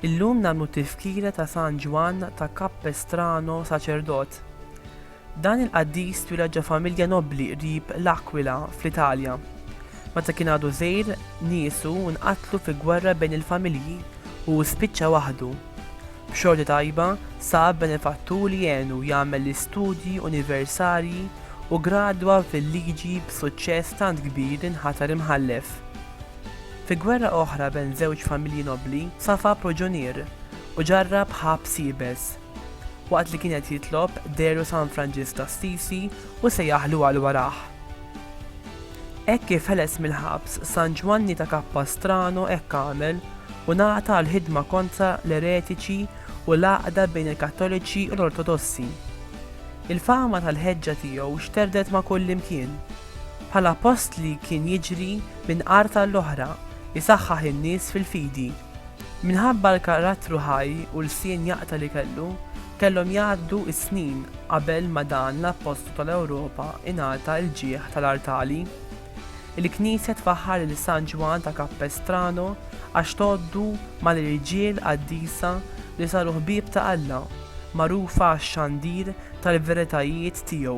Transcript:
Illum nagħmlu tifkira ta' San Ġwann ta' Capestrano saċerdot. Dan il-qaddis twiled ġo familja nobbli qrib l-Akwila, fl-Italja. Meta kien għadu żgħir, niesu nqatlu fi gwerra bejn il-familji u hu spiċċa waħdu. B'xorti tajba, sab benefatturi jgħinu jagħmel l-istudji universarji u gradwa fil-liġi b'suċċess tant kbir li nħatar imħallef. Fi gwerra oħra bejn żewġ familji nobbli, safa proġunier u ġarrab ħabs iebes. Waqt li kien qed jitlob, dehru San Franġisk t'Assisi u sejjaħlu għal warah. Hekk kif ħeles mill-ħabs, San Ġwanni ta' Capastrano hekk għamel u ngħata għall-ħidma kontra l-eretiċi u l-għaqda bejn il-Kattoliċi u l-Ortodossi. Il-fama tal-ħeġġa tiegħu xterdet ma' kullimkien. Bħala postli kien jiġri minn art għall-oħra, isaħħaħ in-nies fil-fidi. Minħabba l-karattru ħaj u lsien jaqta' li kellu, kellhom jgħaddu s-snin qabel ma dan l-Appostlu tal-Ewropa ingħata l-ġieħ tal-artali. Il-Knisja tfaħħar lil San Ġwann ta' Capestrano għax tgħoddu mal-irġiel qaddisa li saru ħbieb ta' Alla, magħrufa għax-xandir tal-veritajiet tiegħu.